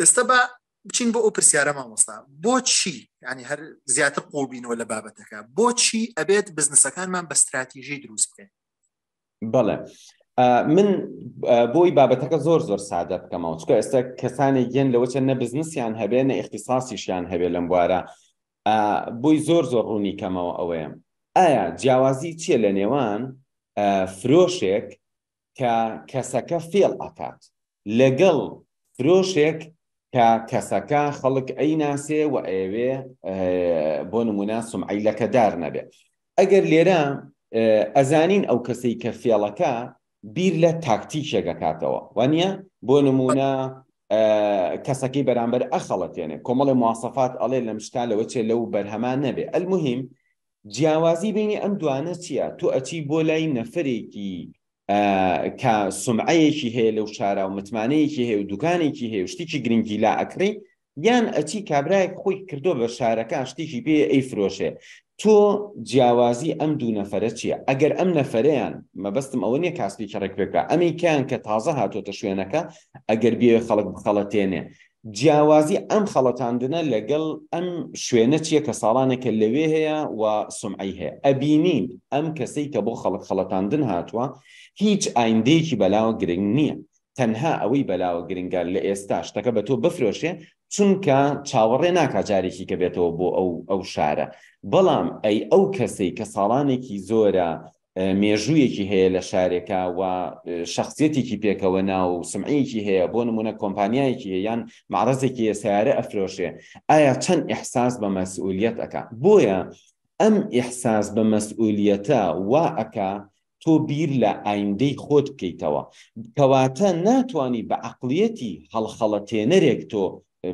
ئێستا با بچین بۆ ئەو پرسیارە مامۆستا بۆچی ینی هەر زیاتر قوڵبینەوە لە بابەتەکە بۆچی ئەبێت بزنسەکانمان بە ستراتیژی دروست بکەین بەڵێ من بۆی بابەتەکە زۆر زۆر سادە بکەمەوە چکە ئێستا کەسانێک گەن لەوە چەند نە بزنسیان هەبێ نە اختصاسیشیان هەبێ لەم بوارە بۆی زۆر زۆر ڕوونی کەمەوە ئەوەیە ئایا جیاوازی چیە لە نێوان فرۆشێک کە کەسەکە فێڵ ئەکات لەگەڵ فرۆشێک کە کەسەکە خەڵک ئەی ناسێ و ئەوێ بۆ نمونە سمعی لەکەدار نەبێ ئەگەر لێرە ئەزانین ئەو کەسەی کە فێڵەکە بیر لە تاکتیکێکەکاتەوە وانە بۆ نمونە کەسەکەی بەرامبەر ئەخەڵەتێنێ کۆمەڵی موواسەفات ئەڵێ لەم شتا لەوە چێ لەو بەرهەمان نەبێ ئەلمهم جیاوازی بەینی ئەم دوانە چیە تۆ ئەچی بۆ لای نەفرێکی کە سمعەیەکی هەیە لەو شارا و متمانەیەکی هەیە و دوکانێکی هەیە شتێکی گرنگی لا ئەکڕی یان ئەچی کابراایەک خۆی کردو بە شارەکە شتێکی پێ ئەی فرۆشێ تۆ جیاوازی ئەم دوو نەفرە چییە ئەگەر ئەم نەفرەیان مەبەستم ئەوە نیە کاسپێکی ڕێک پێکە ئەمیکیان کە تازە هاتۆتە شوێنەکە ئەگەر بێ خەڵک بخەڵەتێنێ جیاوازی ئەم خەڵەتاندنە لەگەڵ ئەم شوێنە چیە کە ساڵانێکە لەوێ هەیە و سومعەی هەیە ئەبینین ئەم کەسەی کە بۆ خەڵک خەڵەتاندن هاتووە هیچ ئایندەیەکی بەلاوە گرنگ نییە تەنها ئەوەی بەلاوە گرنگە لە ئێستا شتەکە بە تۆ بفرۆشێ چونکە چاوەڕێ ناکا جارێکی کە بێتەوە بۆ ئەو ئەو شارە بەڵام ئەی ئەو کەسەی کە ساڵانێکی زۆرە مێژوویەکی هەیە لە شارێکا و شەخسیەتێکی پێکەوە نا و سمعەیەکی هەیە بۆ نمونە کۆمپانیایەکی هەیە یان معرەزێکی هەیە سیارە ئەفرۆشێ ئایا چەند ئیحساس بە مەسئولیەت ئەکا بۆیە ئەم ئیحساس بە مەسئولیەتە وا ئەکا تۆ بیر لە ئایندەی خۆت بکەیتەوە کەواتە ناتوانی بە عەقڵیەتی هەڵخەڵەتێنەرێک تۆ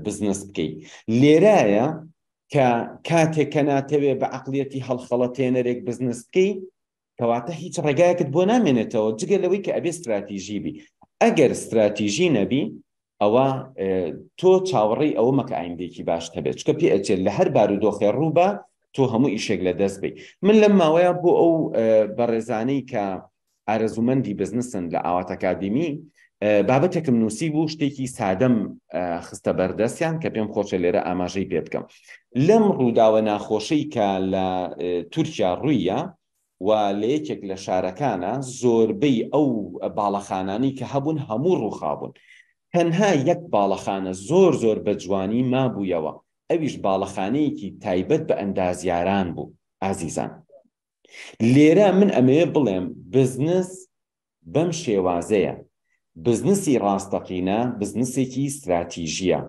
بزنس بکەیت لێرایە کە کاتێک کە ناتەوێ بە عقلیەتی هەڵخەڵەتێنەرێک بزنس بکەی کەواتە هیچ ڕێگایەکت بۆ نامێنێتەوە جگە لەوەی کە ئەبێ استراتیژی بی ئەگەر استراتیژی نەبی ئەوە تۆ چاوەڕی ئەوە مەکە ئایندێکی باش هەبێت چکە پێ ئەچێت لە هەر بار و دۆخێ ڕووبە تۆ هەموو ئیشێک لە دەست بی من لەم ماوەیە بۆ ئەو بەڕێزانەی کە ئارەزومەندی بزنسن لە ئاوات ئەکادیمی بابەتێکم نووسی بوو شتێکی سادەم خستە بەردەستیان کە پێم خۆشە لێرە ئاماژەی پێ بکەم لەم ڕووداوە ناخۆشەی کە لە تورکیا ڕوویە و لە یەکێک لە شارەکانە زۆربەی ئەو باڵەخانانی کە هەبوون هەموو ڕووخابوون تەنها یەک باڵەخانە زۆر زۆر بە جوانی مابوویەوە ئەویش باڵەخانەیەکی تایبەت بە ئەندازیاران بوو ئازیزان لێرە من ئەمەوێ بڵێم بزنس بەم شێوازەیە، بزنسی ڕاستەقینە بزنسێکی ستراتیژییە،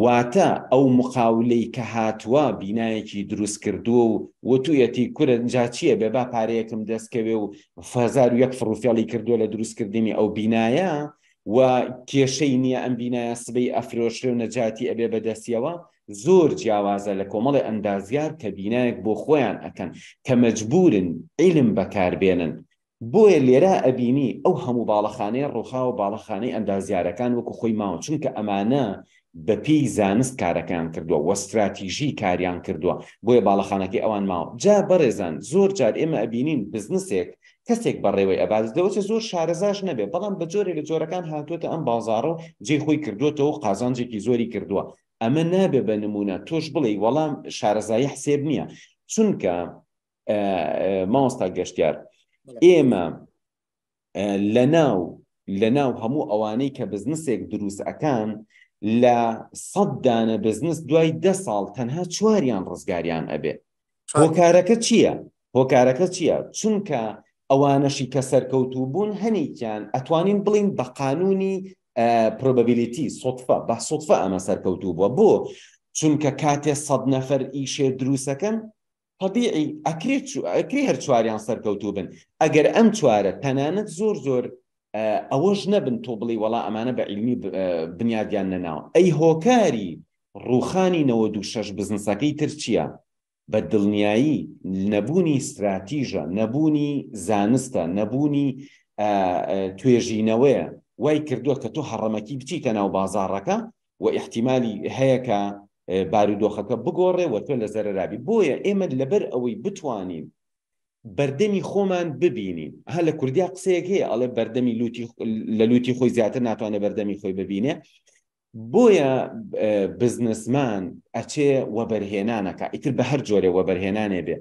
واتە ئەو مقاولەی کە هاتووە بینایەکی دروست کردووە و وتوویەتی کورە جا چییە بێ با پارەیەکم دەست کەوێ و هەزار و یەک فڕوفێڵی کردووە لە دروست کردنی ئەو بینایە و کێشەی نییە ئەم بینایە سبەی ئەفرۆشرێ و نەجاتی ئەبێ بە دەستیەوە، زۆر جیاوازە لە کۆمەڵێ ئەندازیار کە بینایەک بۆ خۆیان ئەکەن کە مەجبورن عیلم بەکار بێنن بۆیە لێرا ئەبینی ئەو هەموو باڵەخانەیە ڕوخاوە باڵەخانەی ئەندازیارەکان وەکو خۆی ماوە چونکە ئەمانە بە پێی زانست کارەکەیان کردووە وە ستراتیژی کاریان کردووە بۆیە باڵەخانەکەی ئەوان ماوە جا بەڕێزان زۆر جار ئێمە ئەبینین بزنسێک کەسێک بەڕێوەی ئەبات لەوەچە زۆر شارەزاش نەبێ بەڵام بە جۆرێ لە جۆرەکان هاتووەتە ئەم بازاڕە و جێ خۆی کردووەتەوە قازانجێکی زۆری کردووە ئەمە نابێ بە نمونە تۆش بڵێ وەڵام شارەزایی حسێب نییە چونکە مامۆستا گەشتیار ئێمە لە ناو لە ناو هەموو ئەوانەی کە بزنسێک دروست ئەکان لە سەددانە بزنس دوای ده ساڵ تەنها چواریان ڕزگاریان ئەبێ هۆکارەکە چییە؟ هۆکارەکە چییە؟ چونکە ئەوانەشی کە سەرکەوتوو بوون هەنیکیان ئەتوانین بڵین بە قانونی پرۆببیلیتی سوتفە بە سوتفە ئەمە سەرکەوتوو بووە بۆ چونکە کاتێ سەد نەفەر ئیشێ دروستەکەن طبیعی ئەکرێت ئەکری هەر چواریان سەرکەوتوو بن ئەگەر ئەم چوارە تەنانەت زۆر زۆر ئەوەش نەبن تۆ بڵی وەڵا ئەمانە بە عیلمی بنیادیان نەناوە ئەی هۆکاری ڕوخانی نەوە دوو شەش بزنسەکەی تر چییە بە دڵنیایی نەبوونی استراتیژە نەبوونی زانستە نەبوونی توێژینەوەیە وای کردووە کە تۆ هەڕەمەکی بچیتە ناو بازارڕەکە و احتیممالی هەیە کە بارودۆخەکە بگۆڕێ وە تۆ لە زەررابی بۆیە ئێمە لەبەر ئەوەی بتوانین بەردەمی خۆمان ببینین ها لە کوردیا قسەیەک هەیە ئەڵێ بەردەمی لوتی لە لوتی خۆی زیاتر ناتوانێت بەردەمی خۆی ببینێ بۆیە بزنسمان ئەچێ وەبەرهێنانەکە ئیتر بە هەر جۆرێ وەبەرهێنانێ بێ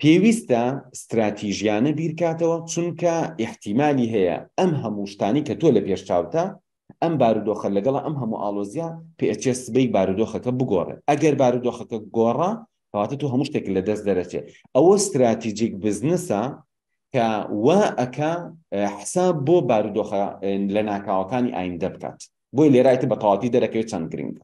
پێویستە ستراتیژیانە بیرکاتەوە چونکە احتیممالی هەیە ئەم هەموو شتانی کە تۆ لە پێش چاوتە ئەم بارودۆخە لەگەڵ ئەم هەموو ئاڵۆزیە پێئەچێ سبەی بارودۆخەکە بگۆڕێ ئەگەر بارودۆخەکە گۆڕا کەواتە تۆ هەموو شتێک لە دەست دەرەچێ ئەوە ستراتیجیک بزنسە کە وا ئەکا حساب بۆ بارودۆخە لە ناکاوەکانی ئایندە بکات بۆی لێرایتە بە تەواتی دەرەکەوێت چەند گرنگە